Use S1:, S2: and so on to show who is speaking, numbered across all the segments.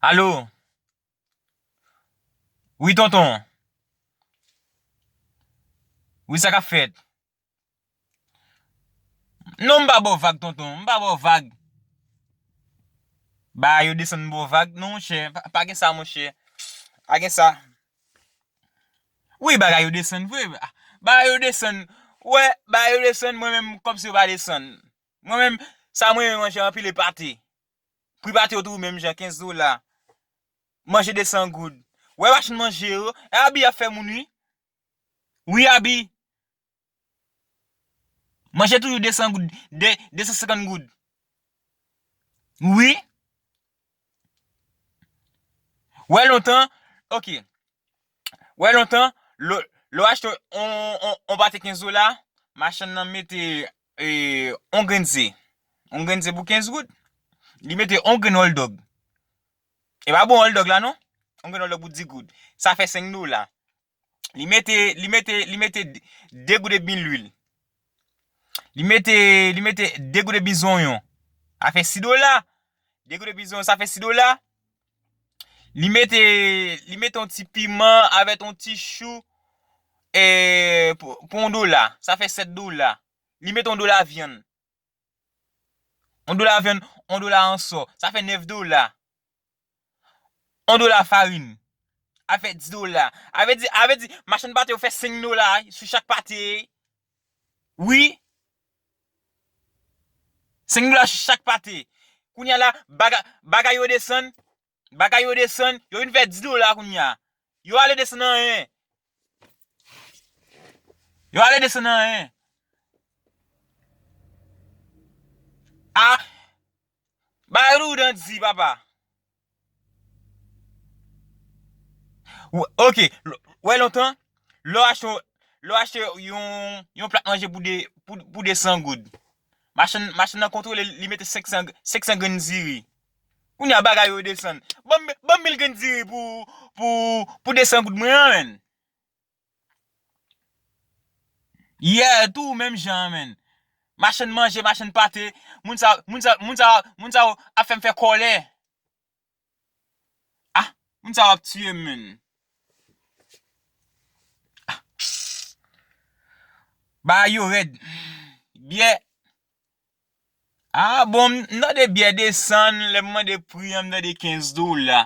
S1: Allo Wi tonton Wi sa kap fèt Non m pa baw vag tonton m pa baw vag Ba yo desann m baw vag non monchè pa gen sa monchè pa gen sa Wi bagay yo desann vre bagay yo desann ou wè bagay yo desann mwen menm kòmsi yo pa desann mwen menm sa m renmen manje anpil e pate Private yo tou menm jan 15 dola. Manje 200 goud. Wè machin manje yo. E abi ap fè moun wi. Wi abi. Manje toujou 200 goud. 250 goud. Wi. Wè lontan. Ok. Wè lontan. Lè w achte yon pate 15 dola. Machann nan mete on grenn ze, on grenn ze pou 15 goud, li mete on grenn hòldòg, e pa bon hòldòg la non, on grenn hòldòg pou 10 goud, sa fè 5 dola, li mete, li mete, li mete 2 goud edmi lwil, li mete, li mete 2 goud edmi zonyon, sa fè 6 dola, 2 goud edmi zonyon sa fè 6 dola, Li mete li mete yon ti piman avèk yon ti chou e pou yon dola. Sa fè 7 dola. Li mete yon dola vyann. Yon dola vyann, yon dola anso. Sa fè 9 dola. Yon dola farin. Sa fè 10 dola. A vle di, a vle di machann pate yo fè 5 dola sou chak pate. Wi. Senk dola chak pate. Kounya la bagay yo desann. Bagay yo desann. Yo vin fè 10 dola kounya. Yo ale desann anyen. Yo ale desann anyen. A. Bagay yo doudan di papa. Ok, wè lontan, lò achte, lò achte yon, yon plat manje pou de, pou 200 goud. Machann, machann nan kontwole li mete 500, 500 grenn diri. Kounye a bagay yo desann. Banm, banm 1000 grenn diri pou, pou, pou 200 goud mwen an menn. Yeah tou menm jan an menn. Machann manje, machann pate, moun sa yo, moun sa yo, moun sa yo, moun sa yo ap fèm fè kòlè. Ah moun sa yo ap tiyem menn. Ah bagay yo rèd. Byè Ah bon m tande byè desann lèm mande pri an m tande 15 dola.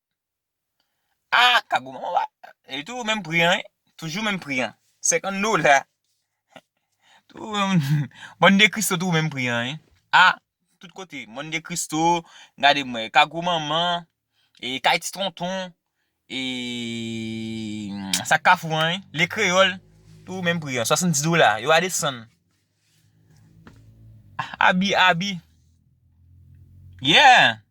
S1: Ah kagou manman wa li toujou menm pri an wi toujou menm pri an 50 dola monn de kristo toujou menm pri an wi ah tout kote monn de kristo gade m wè kagou manman e kay ti tonton e sak kafou an wi le kreyòl toujou menm pri an 70 dola yo pa desann abi abi yeah.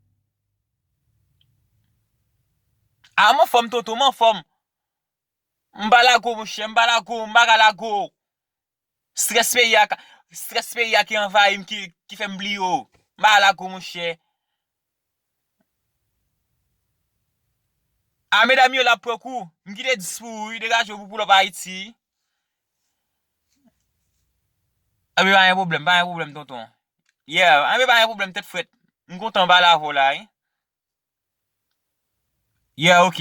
S1: Ah m anfòm tonton m anfòm M pa lago monchè m pa lago m pa ka lago Strès peyi a ka strès peyi a ki anvayi m ki fè m bliye w M pa ka lago monchè Ah medam yo la pran kou M kite 10 pou ou wi degaje w pou w poulòp Ayiti Anben pa gen pwoblèm, pa gen pwoblèm tonton. Yeah, anben pa gen pwoblèm tèt frèt. M kontan m pale avè w la wi. Yeah ok.